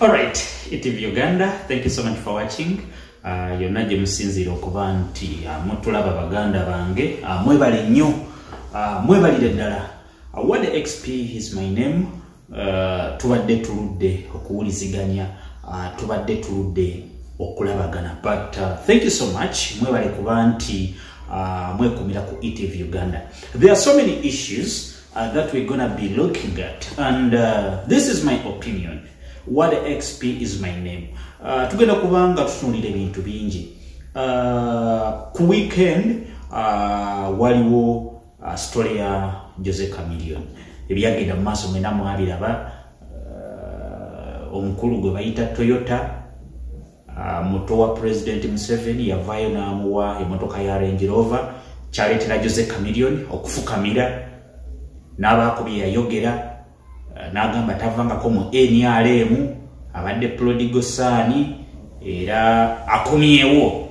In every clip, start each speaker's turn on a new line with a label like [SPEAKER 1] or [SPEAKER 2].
[SPEAKER 1] Alright, ETV Uganda, thank you so much for watching. Uh, yonna gye musinziira okuba nti uh, mutulaba baganda bange uh, mwebale nnyo uh, mwebalire ddala uh, what xp is my name uh, tubadde tuludde okuwuliziganya uh, tubadde tuludde okulabagana but uh, thank you so much mwebale kuba nti uh, mwekumira ku etv uganda there are so many issues uh, that we're gonna be looking at and uh, this is my opinion what xp is my name uh, tugenda kubanga tutunulira ebintu bingi uh, ku weekend uh, waliwo uh, story ya jose camilion ebyagenda mu maaso mwena mwabiraba uh, omukulu gwe bayita toyota Ah, muto wa president museveni yavayo namuwa emotoka ya range rover kyaletera jose camilion okufukamira nabaako bye yayogera ah, nagamba tavangako mu nrm abadde prodigo saani era akomyewo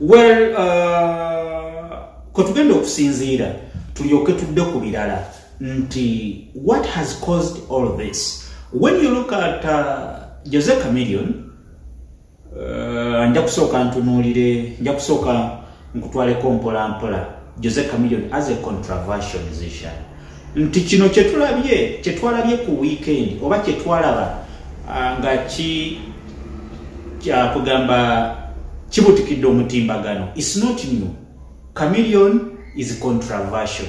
[SPEAKER 1] well uh, kwetugenda okusinziira tulyoke tudde ku birala nti what has caused all this when you look at uh, jose camilion uh, nja kusooka ntunuulire nja kusooka nkutwaleko mpola mpola jose camilion as a controversial musician nti kino kyetulabye kyetwalabye ku weekend oba kyetwalaba uh, nga ki kyakugamba kibutikidde omutimbagano is not new camilion is controversial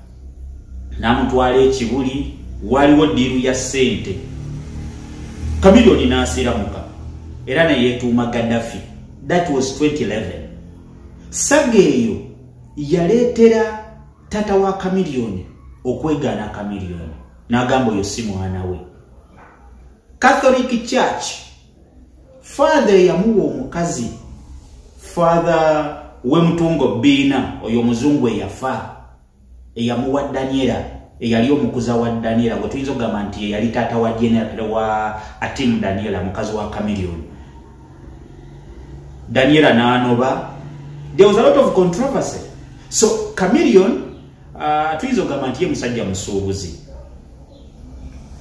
[SPEAKER 1] namutwala ekibuli waliwo diiru ya ssente kamiliyoni n'asiramuka era neyetuuma gaddafi that was 2011 saga eyo yaleetera tata wa kamiliyoni okwegaana kamiliyoni n'agamba oyo si mwana we catholic church father eyamuwa omukazi father wemutungo biina oyo omuzungu eyafa eyamuwa daniela eyali omukuza wa daniela gwe tuyinza okugamba nti eyali taata wa general wa atimu daniela mukazi wa camilion daniela naanoba there was a lot of controversy so camilion Ah, tuyinza ogamba nti ye musajja musuubuzi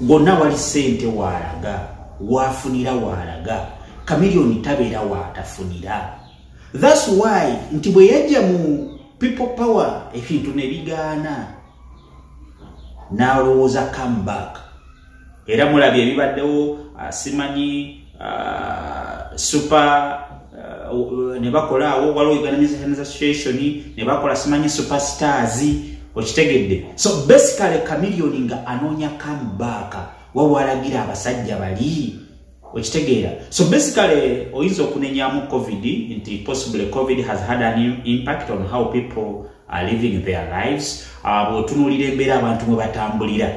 [SPEAKER 1] gonna wali sente waalaga waafunira waalaga kamiliyoni tabeera waatafunira thats why nti bwe yajja mu people power ebintu ne bigaana n'alowooza comeback era mulabye ebibaddewo asimanyi ah, uh, super uh, ne bakola awo waliwo uganda music association ne bakola simanyi superstars okitegedde so basically kamiliyoni nga anoonya kamubaaka wawalagira abasajja bali okitegeera so basically oyinza okunenyamu covid nti possibly covid has had an impact on how people are living their lives ah, bwotunulira embeera abantu mwe batambulira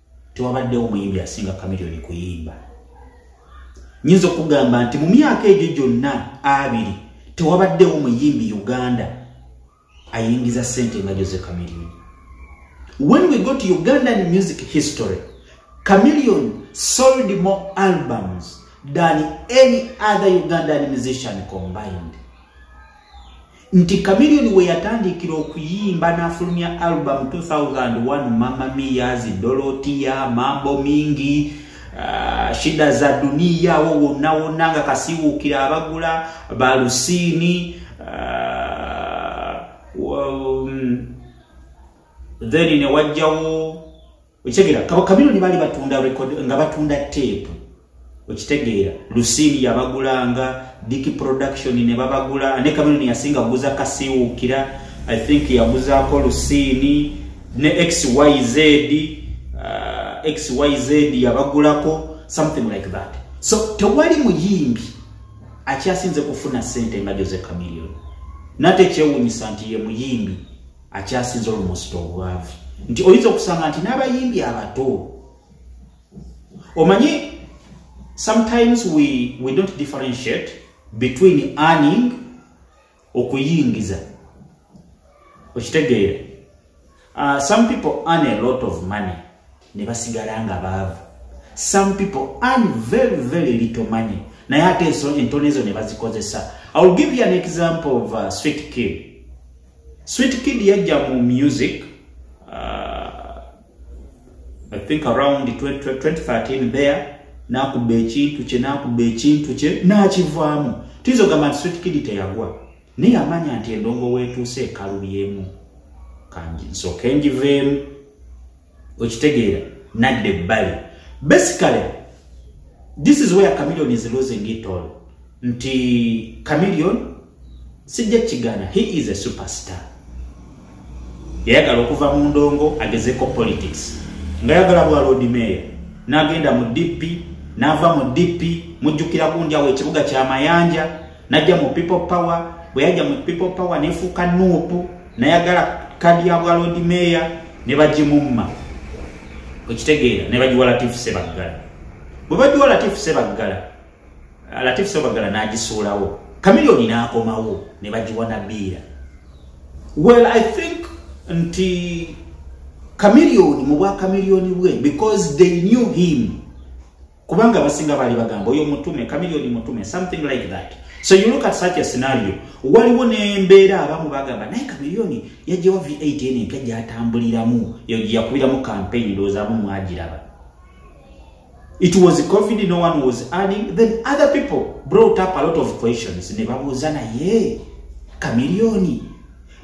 [SPEAKER 1] tewabaddewo muyimbi asinga kamiliyoni kuyimba nyinza okugamba nti mu myaka egyo gyonna abiri tewabaddewo muyimbi uganda ayingiza sente nga jose kamiliyoni when we go to ugandan music history kamiliyoni sold more albums than any other ugandan musician combined nti kamiliyoni we yatandikira okuyimba n'afulumya album 2001 mama miyazi dolotiya mambo mingi uh, shida za duniya awo wonna wonna nga kasiwuukira abagula balusiini uh, um, then newajjawo okitegera kabakabironi bali batunda record nga batunda tape okitegeera lusini yabagulanga diki production ne babagula ne kabironi yasinga kuguza kasiwukira i think yaguzaako lusini ne xyz uh, xyz yabagulako something like that so tewali muyimbi akyasinze kufuna sente nga jose kamilion nate kyewunyisa nti ye muyimbi akyasinza olumusita obwavu nti oyinza okusanga nti n'abayimbi abato omanyi sometimes we, we don't differentiate between earning okuyingiza okitegeera uh, some people earn a lot of money ne basigala nga baavu some people earn very very little money naye ate entone ezo ne bazikozesa i will give you an example of uh, sweet kid sweet kid yajja mu music uh, i think around 2013 there nakuba ekintu kye nakuba ekintu kye nakivaamu tuyinza ogamba nti sweet kid teyagwa naye amanya nti endongo weetuuse ekalubyemu kanji nsooke njiveemu okitegeera nadde ebbali basically this is where chameleon is losing it all nti chameleon sijja kigana he is a superstar yayagala okuva mu ndongo agezeko politics nga yagala bwa lord mayor n'agenda mu dp n'ava mu dp mujjukira gundi awo ekibuga kya mayanja najja mu people power bwe yajja mu people power nefuuka nuupu nayagala kadi ya bwa lord mayor ne bagimumma okitegeera ne bagiwa latifu sebaggala bwe bagiwa latifu sebaggala latifu sebaggala n'agisuulawo kamiliyoni n'akomawo ne bagiwa nabiira well i think nti kamiliyoni mu bwa kamiliyoni bwe because they knew him kubanga abasinga baali bagamba oyo mutume kamiliyoni mutume something like that so you look at such a scenario waliwo nembeera abamu bagamba naye kamiliyoni yajjawa v8 eno empya gyatambuliramu yakubiramu campaign ndowoozamu mwagiraba it was covid no one was adding then other people brought up a lot of questions ne babuuza naye kamiliyoni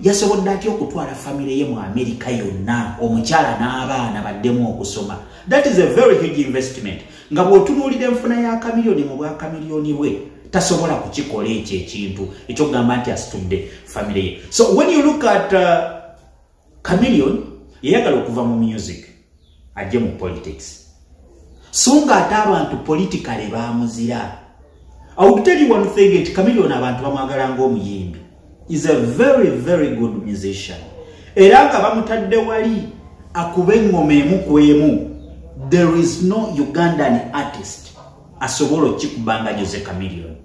[SPEAKER 1] yasobodde atya okutwala famire ye mu amerika yonna omukyala n'abaana baddemu okusoma that is a very huge investment nga bw'otunuulira enfuna ya kamiliyoni mu bwa kamiliyoni bwe tasobola kukikola ekyo ekintu ekyokugamba nti asitudde famire ye so when you look at uh, kamiliyoni yeyagala okuva mu music ajje mu politics so nga ate abantu politikale bamuzira auteliwanthegeti kamilioni abantu bamwagala ngaomuyimbi is a very very good musician era nga bamutadde wali akuba eŋŋoma emu ku emu there is no ugandan artist asobola okikubanga jose camilioni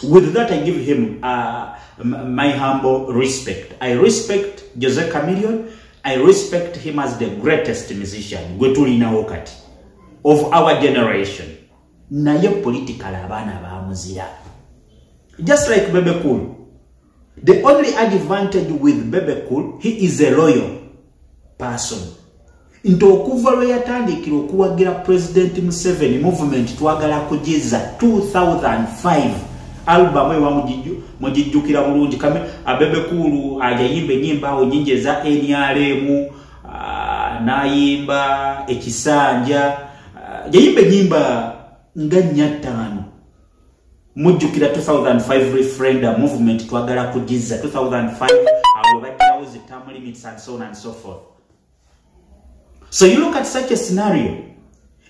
[SPEAKER 1] With that, I give him uh, my humble respect. I respect Jose Chameleon. I respect him as the greatest musician. Gwetulina wakati. Of our generation. Naye political abana ba muzira. Just like Bebe Cool. The only advantage with Bebe Cool, he is a loyal person. Nti okuva lwe yatandikira okuwagira President Museveni movement twagala kujiza 2005 album ewa mujiju mujijukira bulungi kame abebe kulu ajayimbe nyimba awo nyinje za NRM ah, nayimba ekisanja ah, jayimbe nyimba nga nyatano mujjukira 2005 referendum movement twagala kugizza 2005 awo bajjawo zi term limits and so on and so forth so you look at such a scenario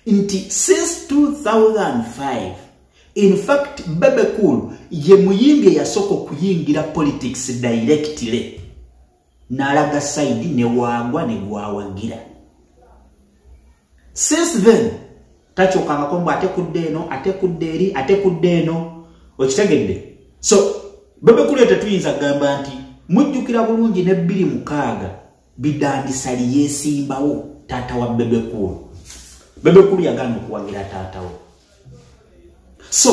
[SPEAKER 1] nti since 2005 in fact bebe cool ye muyimbi eyasooka okuyingira politics directly nalaga saidi newangwa negwawagira since then takyokangako mbu ate kudde eno ate kudde eri ate kudde eno okitegedde so bebekulu tetuyinza kugamba nti mujjukira bulungi ne bbiri mukaaga bidandisali yesimbawo taata wa bebekulu bebekulu yagana okuwagira taatawo so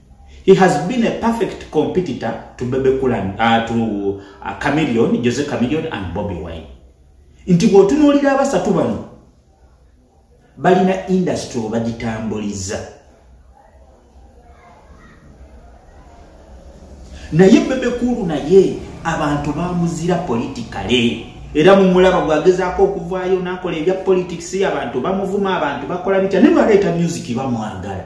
[SPEAKER 1] He has been a perfect competitor to Bebe Cool and uh, to uh, Chameleon, Jose Chameleon and Bobby Wine. Nti bw'otunuulira abasatu bano balina industry obagitambuliza naye Bebe Cool naye abantu bamuzira politikale era mumulaba gwagezaako okuvaayo n'akola ebya politics abantu bamuvuma abantu bakola bitya ne baleeta music bamwagala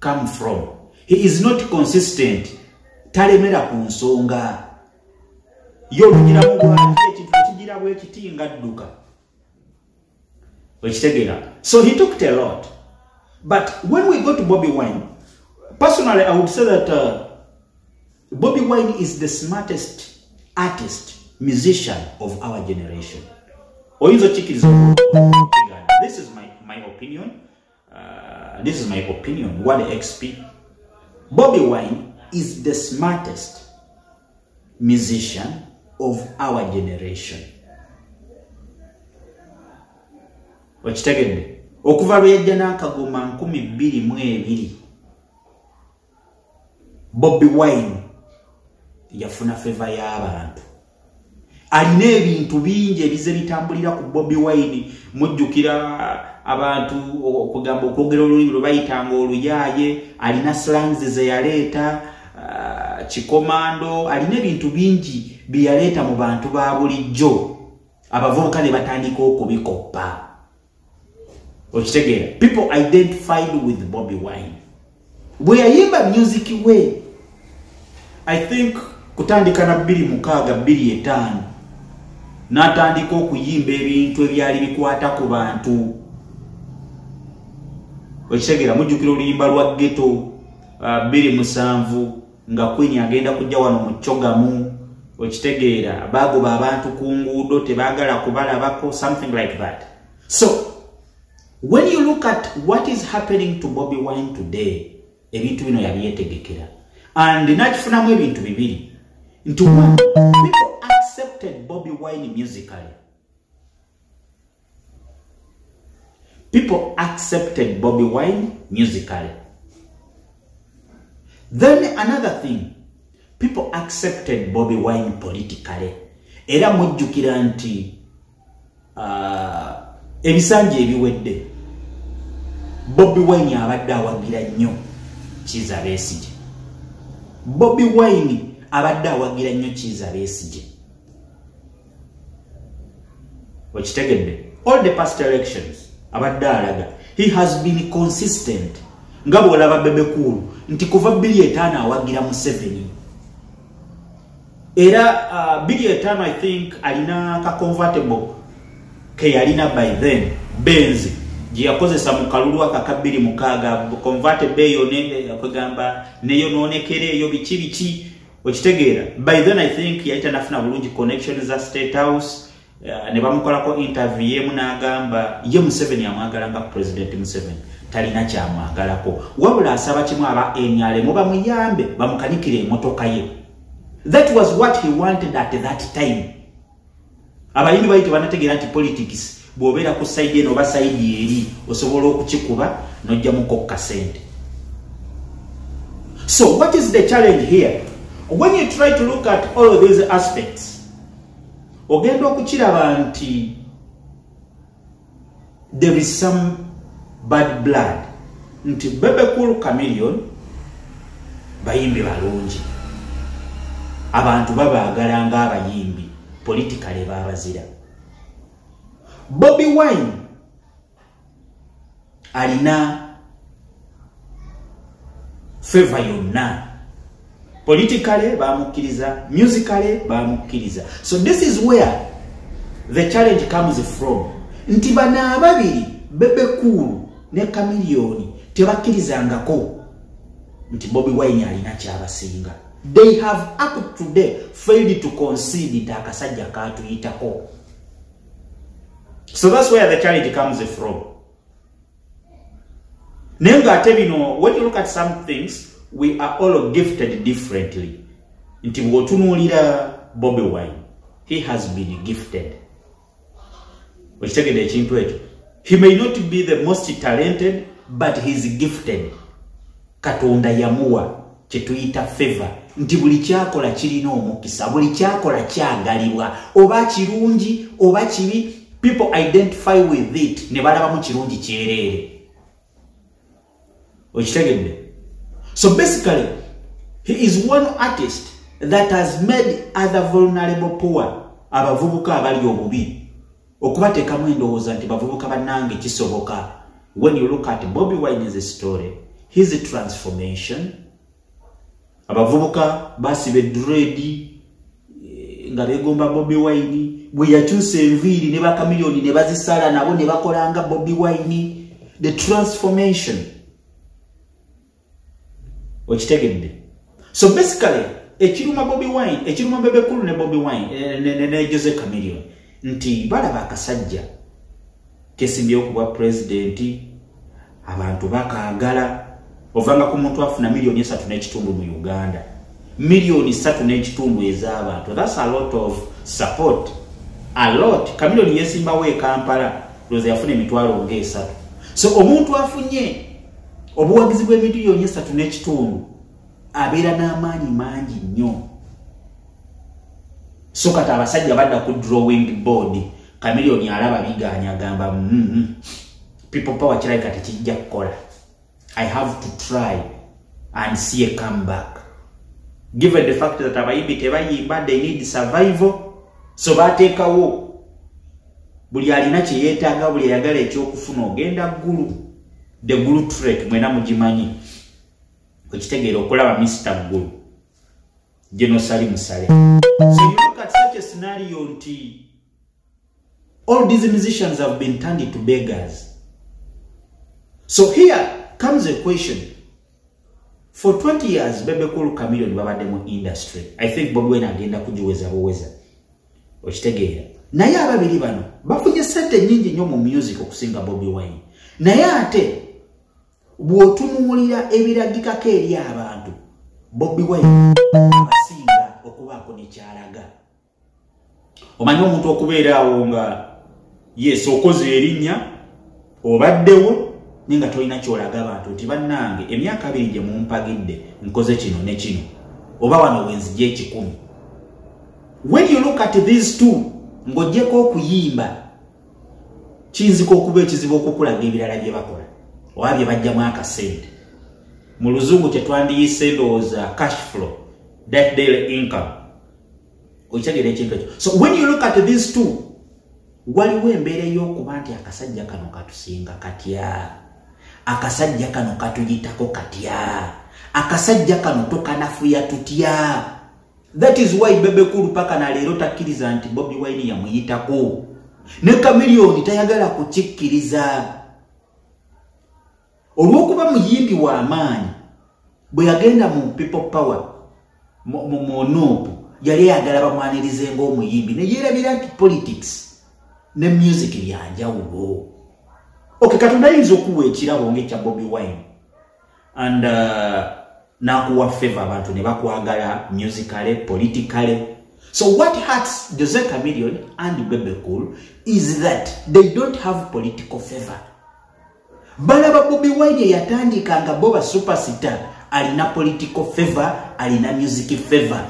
[SPEAKER 1] come from he is not consistent talemera ku nsonga yo olugira mu bwanji ekintu ekigira bwekiti nga dduka okitegera so he tooked a lot but when we go to bobby wine personally i would say that uh, bobby wine is the smartest artist musician of our generation oyinza okikiriza this is my, my opinion Uh, this is my opinion. What XP? Bobby Wine is the smartest musician of our generation. Okitegedde? Okuva lwe yajja n'akagoma nkumi bbiri mu ebiri bobi wine yafuna feva y'abantu alina ebintu bingi ebize bitambulira ku bobi wine mujjukira abantu okugamba okwogera olulimi lwe bayitanga oluyaaye alina slangs ze yaleeta uh, kikomando alina ebintu bingi bye yaleeta mu bantu ba bulijjo abavubuka ne batandika okubikoppa okitegeera people identified with bobi wine bweyayimba music we i think kutandika na bbiri mukaaga bbiri etaano n'atandika okuyimba ebintu ebyali bikwata ku bantu okitegeera mujjukira oluyimba lwa geto uh, bbiri musanvu nga queen agenda kujja wano mu cogamu okitegeera baagoba abantu ku nguudo tebaagala kubalabako something like that so when you look at what is happening to bobi wine today ebintu bino yabyetegekera and nakifunamu ebintu bibiri nti people accepted bobi wine musically People accepted Bobby Wine musically. Then another thing, people accepted Bobby Wine politically. Era mujjukira nti uh, ebisanja ebiwedde Bobby Wine abadde awagira nnyo Kiza Besigye. Bobby Wine abadde awagira nnyo Kiza Besigye. okitegedde all the past elections abadde alaga he has been consistent nga bwolaba bebekuulu nti kuva bili etaano awagira museveni era uh, bili etaano i think alina ka convertible keyalina by then benzi gyeyakozesa mu kalulu akaka bbiri mukaaga convertible eyo eh, kwegamba neyonoonekera eyo biki biki okitegeera by then i think yali tanafuna bulungi connection za state house uh, ne bamukolako interview yemu n'agamba ye museveni amwagala nga president museveni talina kyamwagalako wabula asaba kimu aba nrm bamuyambe bamukanikire emotoka ye that was what he wanted at that time abayimbi bali tebanategeera nti politics bw'obeera ku saidi eno oba saidi eri osobola okukikuba n'ojjamuko ku kasente so what is the challenge here when you try to look at all of these aspects ogenda okukiraba nti there is some bad blood nti bebe cool chameleon bayimbi balungi abantu babaagala ng'abayimbi politikale baabazira bobi wine alina feva yonna politically bamukkiriza musically bamukkiriza so this is where the challenge comes from nti bano ababiri bebekuulu ne kamiliyoni tebakkirizangako nti bobi wine alina kyabasinga they have up today failed to concede nti akasajja katuyitako so that's where the challenge comes from naye nga ate bino when you look at some things we are all gifted differently nti bwotunuulira bobi wine he has been gifted okitegede ekintu ekyo he may not be the most talented but heis gifted katonda yamuwa kyetuyita feva nti buli kyakola kirina omukisa buli kyakola kyagalibwa oba kirungi oba kibi people identify with it ne balabamu kirungi kyereere okitegedde so basically he is one artist that has made other vulnerable poor abavubuka abali obubi okubateekamu endowooza nti bavubuka bannange kisoboka when you look at bobi wines story his transformation abavubuka basiba edredi eh, nga begomba bobi wine bwe yakyusa enviiri ne bakamiliyoni ne bazisala nabo ne bakolanga bobi wine the transformation okitegedde so basically ekiruma bobi wine ekiruma bebekulu ne bobi wine eh, ne jose camilion nti balaba akasajja kesimbye okubwa pulezidenti abantu bakagala ovanga ku muntu afuna miliyoni esatu n'ekitundu mu uganda miliyoni satu n'ekitundu ez'abantu thats a lot of support a lot kamiliyoni yesimbawo ekampala loza yafuna emitwalo ngaesatu so omuntu afunye obuwagizi bw'emiliyoni esatu n'ekitundu abeera n'amaanyi mangi nnyo so kati abasajja badda ku drawing board kamiliyoni alaba bigaanya agamba mm-hmm. people power kirabika tekijja kukola i have to try and see a come back given the fact that abayimbi tebayimba they need survival so bateekawo buli alina kye yeetaaga buli ayagala ekyokufuna ogenda ggulu the gulu tret mwena mugimanyi okitegeera okulaba mister ggulu genosali musale so you look at such a scenario nti all these musicians have been turned into beggars so here comes a question for 20 years bebekulu camilion babadde mu industry i think bobwena agenda kugiweza buweza okitegeera naye ababiri bano bafunye sente nyingi nnyo mu music okusinga bobi wine naye ate bw'otunuulira ebiragikako eri abantu bobi wine abasinga okubaako nekyalaga omanyi omuntu okubeera awo nga yes okoze erinnya obaddewo naye nga tolina kyolaga abantu nti bannange emyaka abiri gye mumpagidde nkoze kino ne kino oba wano wenzija ekikumi when you look at these two ng'ogyeko okuyimba kiyinzika okuba ekizibu okukulaga ebirala bye bakola oba bye bajjamu akasente mu luzungu kyetwandiyise ndowooza cash flow that daily income okitegera ekintu ekyo so when you look at these two waliwo embeera ey'okuba nti akasajja kano katusinga katya akasajja kano katuyitako katya akasajja kano tokanafuya tutya that is why bebekulu paka na leero takkiriza nti bobi wine yamuyitako ne kamiliyoni tayagala kukikkiriza olw'okuba muyimbi w'amaanyi bwe yagenda mu people power mu nuupu yali ayagala bamwanirize ng'omuyimbi ne yeerabira nti politics ne music byanjawulo oke katonda ayinza okuwa ekirabo ngaekya bobi wine and uh, nakuwa favor abantu ne bakwagala musicale politicale so what hurts jose camilion and bebecool is that they don't have political favor balaba bobi wine eyatandika nga bo ba superstar alina political favor alina music favor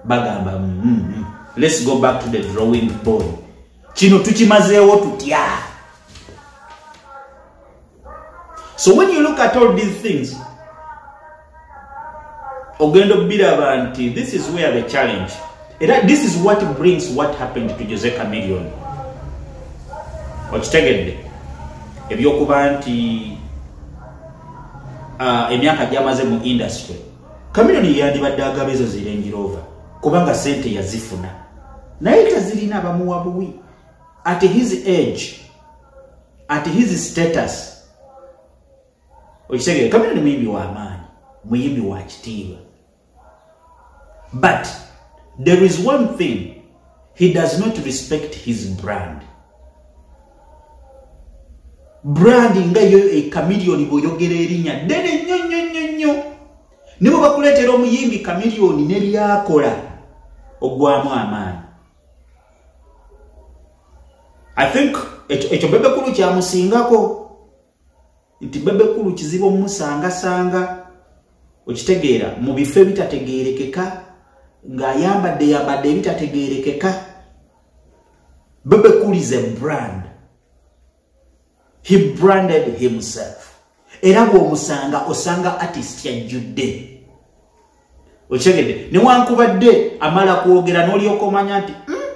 [SPEAKER 1] bagamba mm, mm, mm. let's go back to the drawing board kino tukimazeewo tutya so when you look at all these things ogenda obiraba nti this is where the challenge era this is what brings what happened to jose camillion okitegedde ebyokuba nti uh, emyaka gyamaze mu industry camillion yeyandibadde agaba ezo zirengirova kubanga sente yazifuna naye tazirina bamuwa buwi at his age at his status okitegere kamera ni muyimbi wa maanyi muyimbi wa kitiibwa but there is one thing he does not respect his brand brand nga yo ekamiliyoni bwoyogera erinya ddene nnyo nnyo nnyo nnyo ne bwe bakuleetera omuyimbi kamiliyoni ne byakola ogwamu amaanyi i think ekyo bebekulu kyamusingako nti bebe kulu kizibu omusangasanga okitegeera mu bifo ebitategeerekeka ng'ayambadde yambadde ebitategeerekeka bebe kulu is a brand he branded himself era bw'omusanga osanga artist yajjudde okitegedde newankubadde amala kwogera n'olyoka omanya nti hmm,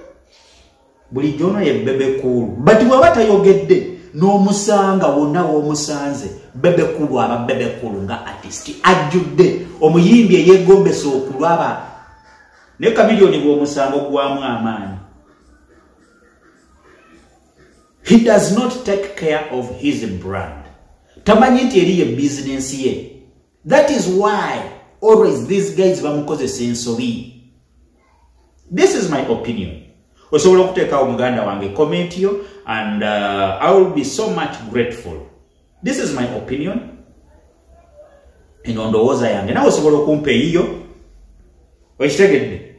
[SPEAKER 1] bulijjo ono ye bebe kuulu but bwaba tayogedde n'omusanga wonna w'omusanze bebe kuulu aba bebe kuulu nga artist ajjudde omuyimbi eyegombesa okulaba ne kamiliyoni bw'omusango gwamu amaanyi he does not take care of his brand tamanyi nti eriyo ebizinensi ye that is why always these guys bamukozesa ensobi this is my opinion osobola okuteekawo muganda wange comment yo and uh, i will be so much grateful this is my opinion eno ndowooza yange nawe osobola okumpa eyiyo okitegedde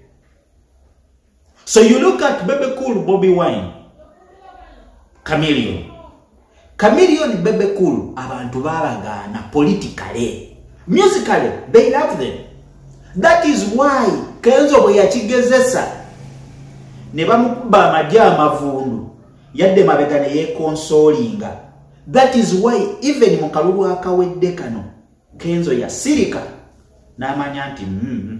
[SPEAKER 1] So you look at Bebe Cool, Bobby Wine, Chameleon. Chameleon, Bebe Cool, abantu baragana politically. Musically, they love them. That is why Kenzo bwe yakigezesa ne bamukuba amagye amavundu yadde mabega ne yekonsolinga. That is why even mu kalulu akawedde kano Kenzo yasirika n'amanya nti mm, mm.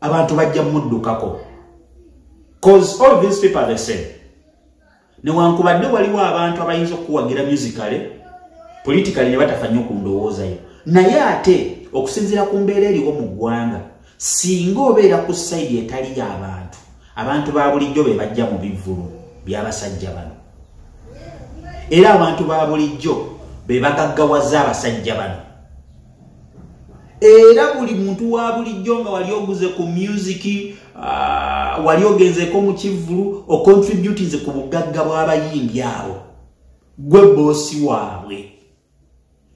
[SPEAKER 1] abantu bajja muddukako cause all these people are the same newankubadde waliwo abantu abayinza okukuwagira musicale politikali ne batafa nnyo ku ndowoozayo naye ate okusinziira ku mbeera eriwo mu ggwanga singa obeera ku sayidi etali y'abantu abantu ba bulijjo be bajja mu bivvulu by'abasajja bano era abantu ba bulijjo be bagaggawaza abasajja bano era buli muntu wa bulijjo nga wali oguze ku music uh, wali ogenzeko mu kivvulu ocontributinze ku bugagga bw'abayimbi abo gwe boosi waabwe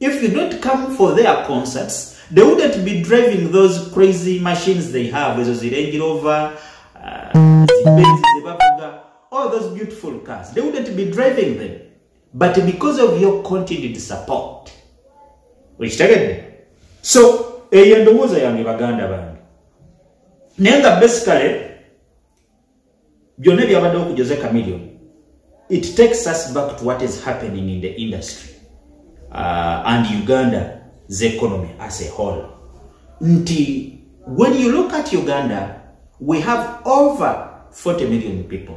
[SPEAKER 1] if you don't come for their concerts they wouldn't be driving those crazy machines they have ezo zirange rover uh, zibenzi zebavuga all those beautiful cars they wouldn't be driving them but because of your continued support wekitegedde so eyo endowooza yange baganda bange naye nga basically byonna ebyabaddewo ku jose camillion it takes us back to what is happening in the industry uh, and uganda the economy as a whole nti when you look at uganda we have over 40 million people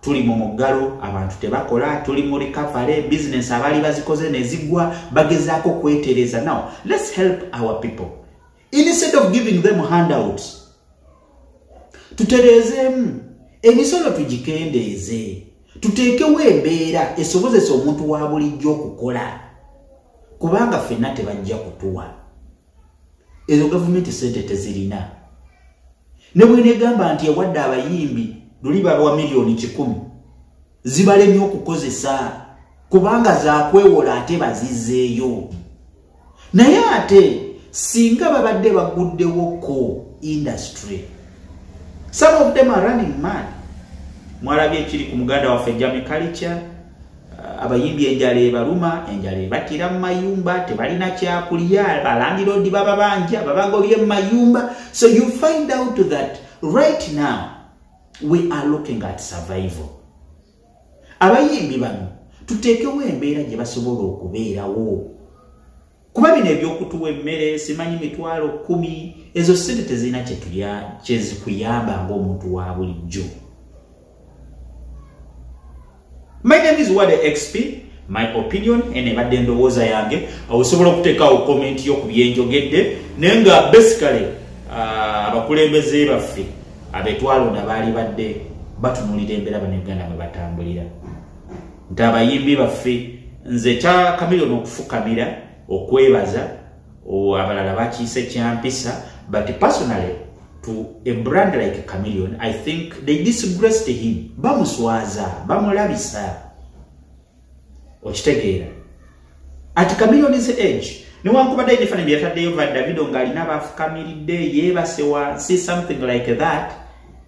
[SPEAKER 1] tuli mu muggalo abantu tebakola tuli mu recovery business abaali bazikoze nezigwa bagezaako kwetereza now let's help our people instead of giving them handouts tutereezeemu emisolo tugikendeeze tuteekewo embeera esobozesa omuntu wa bulijjo okukola kubanga fenna tebajja kutuwa ezo gavumenti sente tezirina ne bwenegamba nti ewadde abayimbi luli balwa miliyoni kikumi zibalemye okukozesa kubanga zakwewola ate bazizeeyo naye ate singa babadde baguddewo ko industry some of them are running mad mwalabye ekiri ku muganda waffe jamikalica abayimbi enjala ebaluma enjala ebatira mu mayumba tebalina kyakulya balandiroodi bababanja babagobye mu mayumba so you find out that right now we are looking at survival abayimbi bano tuteekewo embeera gye basobola okubeerawo kuba bino ebyokutuwa emmere simanyi mitwalo kumi ezo sente tezirina kyezikuyamba ngaomuntu wa bulijjo my name is wade xp my opinion eno ebadde endowooza yange osobola okuteekawo komenti yo ku byenjogedde naye nga basically ah, abakulembeze baffe abetwalonda baali badde batunulira embeera banauganda mwe batambulira nti abayimbi baffe nze kya kamiliyoni okufukamira okwebaza abalala bakiise kyampisa but personally to a brand like camillion i think they disgraced him bamuswaza bamulabisa okitegeera ati camillion is age newankubadde ebifana byeyataddeyo va davido ng'alina baafukamiridde yeebase wansi something like that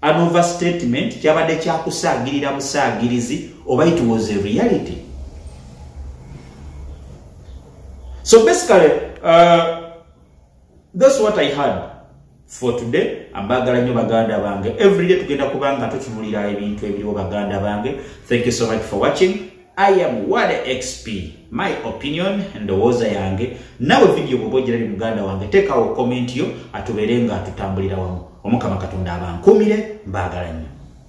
[SPEAKER 1] an overstatement kyabadde kyakusaagirira busaagirizi oba it was a reality so basically uh, thats what i had for today ambagala nnyo baganda bange everyday tugenda kubanga tutunulira ebintu ebiriwo baganda bange thank you so much for watching I am what XP my opinion ndowooza yange nawe video bwoba ogira li muganda wange tekawo comment yo atubeere nga atutambulira wamu omukama katonda abankuumire mbaagala nnyo